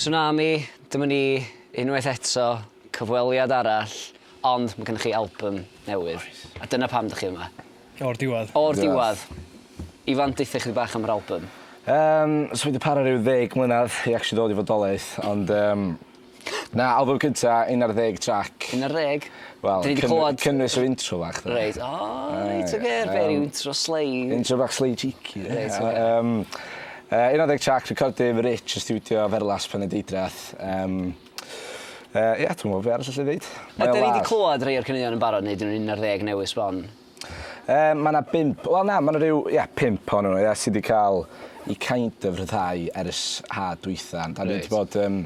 Tsunami, dyma ni unwaith eto, cyfweliad arall, ond ma' gynnoch chi albym newydd. Oes. A dyna pam dych chi yma. O'r diwadd. O'r diwadd. Ifan, deutha chydig bach am yr albym. Yym, so fi 'di para ryw ddeg mlynadd i actually ddod i fodolaeth, ond yym na, albym cynta, un ar ddeg trac. Un ar ddeg? Wel, 'dyn ni 'di clwad... cyn- cynnwys yr intro fach 'de. Reit, o reit ocê, be' ryw intro slei? Intro bach slei cheeky. Reit ocê. Yym Yy, un ar ddeg trac recordydd fy rich yn stiwdio Ferlas Penydeidreath. Yym, yy, ia, dwi'm yn gwybod be' arall allai ddeud. Mae o'n laff. Ydan ni 'di clywed rhei o'r caneuon yn barod neu 'dyn nhw'n un ar ddeg newydd sbon? Yym, mae 'na bump, wel na, mae 'na ryw, ia, pump ohonyn nhw, ia, sy 'di cael eu kind of rhyddhau ers haf dwytha. Ond 'dan ni 'di Reit. bod, yym,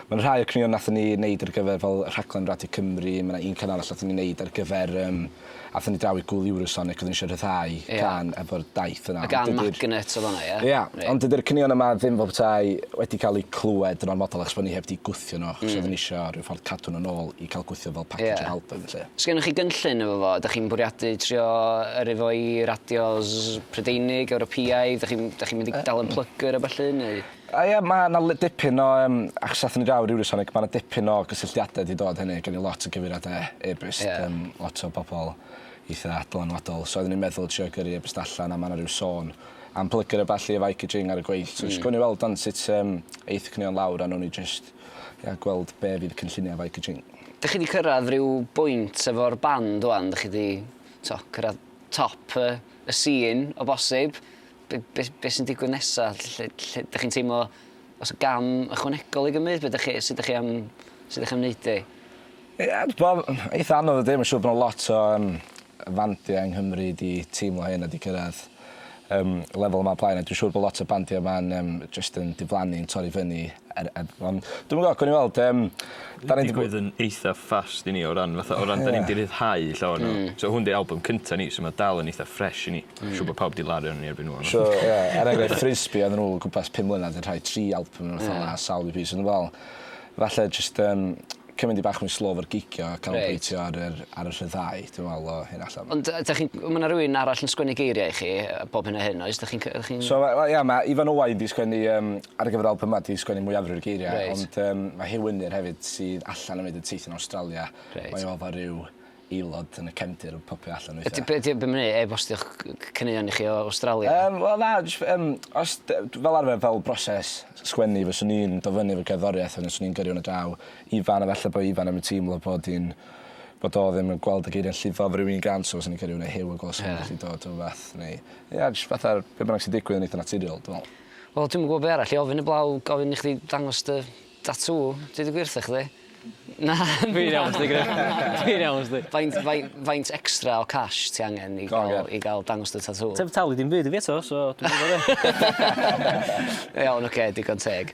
mae 'na rhai o'r caneuon nathon ni neud ar gyfer fel rhaglen Radio Cymru, mae 'na un can arall nathon ni neud ar gyfer, yym, Aethon ni draw i gŵl Eurosonic, oedden ni eisiau rhyddhau yeah. can efo'r daith yna. Y gan magnet oedd hwnna, ie? Ia, right. ond dydy'r cynion yma ddim fel bethau wedi cael eu clywed yn ormodol achos bod ni heb wedi gwthio nhw, achos mm. oedden ni eisiau rhyw ffordd cadw nhw'n ôl i cael gwthio fel package yeah. o album, lle. Sgynnoch chi gynllun efo fo? Dych chi'n bwriadu trio yr efo i radios Prydeinig, Ewropeaidd? Dych chi'n chi mynd i dal yn plygr o falle? Neu... A ia, ma' 'na le- dipyn o yym, achos athon ni draw i Eurosonic, ma' 'na dipyn o gysylltiade 'di dod hynny, gen i lot o gyfeiriade e-byst... Ie. ...yym lot o bobol eitha dylanwadol, so oeddwn i'n meddwl trio gyrru e-byst allan a ma' 'na ryw sôn am plygur a ballu efo Ikey Jing ar y gweill, so jyst... Hmm. ...gown ni weld wan sut yym eith y caneuon lawr a nown ni jyst ia gweld be' fydd y cynllunia efo Ikey Jing. Dych chi 'di cyrradd ryw bwynt efo'r band ŵan, dych chi 'di t'o' cyrradd top y y sîn o bosib? be, be, be sy'n digwydd nesaf, lle, lle, lle dych chi'n teimlo os y gam ychwanegol i gymryd, beth chi, sydd ydych chi am, sydd ydych chi am wneud e? Ie, bod eitha anodd ydy, mae'n siŵr bod yna lot o um, fandiau yng Nghymru di teimlo hyn a di cyrraedd um, lefel yma blaen, a dwi'n siŵr bod lot o bandiau yma'n um, just yn diflannu, yn torri fyny. Er, er, ond dwi'n gwybod, gwni weld, um, da ni'n digwydd yn eitha ffast i ni o ran, fatha, o ran, da ni'n di rhyddhau llawer nhw. Mm. So hwn di album cynta ni, so mae dal yn eitha ffres i ni. Dwi'n siŵr bod pawb 'di laru arnyn ni erbyn ŵan. So ie er enghraifft Frisbee odden n'w o gwmpas pum mlynadd 'di rhoi tri albym ne' rwbeth fel 'a sawl EP so o'n i'n me'wl falle jyst yym cymyd 'i bach mwy slow 'fo'r gigio a canolbwyntio ar yr ar y rhyddhau dwi'n me'wl o hyn allan. Ond yy 'dach chi'n ma' 'na rywun arall yn sgwennu geiria i chi yy bob hyn a hyn oes 'dach chi'n c- 'dach chi'n... So we- wel ia ma' Ifan Owain 'di sgwennu yym ar gyfer yr albym 'ma 'di sgwennu mwyafrif o'r geiria... Reit. ...ond yym ma' Huw Wynir hefyd sydd allan yn mynd yn teithio'n Awstralia... Reit. ...mae o efo ryw aelod yn y cefndir yn popio allan weithia. Ydy be' 'di o be' ma'n neu', e-bostio'ch c- c- caneuon i chi o Awstralia? Yym wel na jyst yym os d- d- fel arfer fel broses s- sgwennu fyswn i'n do' fyny efo cerddoriaeth wedyn swn i'n gyrru 'wn ar draw Ifan a falle bo' Ifan 'im yn teimlo bod 'i'n bod o ddim yn gweld y geiria'n llifo am ryw un gân so fyswn i'n gyrru 'wn ar Huw a gwel' os yn gallu dod o wbath neu ia jyst fatha'r be' bynnag sy'n digwydd yn eitha naturiol dwi me'wl. Wel dwi'm yn gwbo be' arall i ofyn 'eblaw gofyn i chdi dangos dy Tatŵ? Deud y gwir 'tha chdi. Na. Dwi'n iawn sdi Griff. Dwi'n iawn sdi. Faint fai- faint extra o cash ti angen i ga'l... Ocê. ...i ga'l dangos dy tatŵ? Ti 'eb talu dim byd i fi eto so dwi'm yn gwbo be'. Iawn ocê digon teg.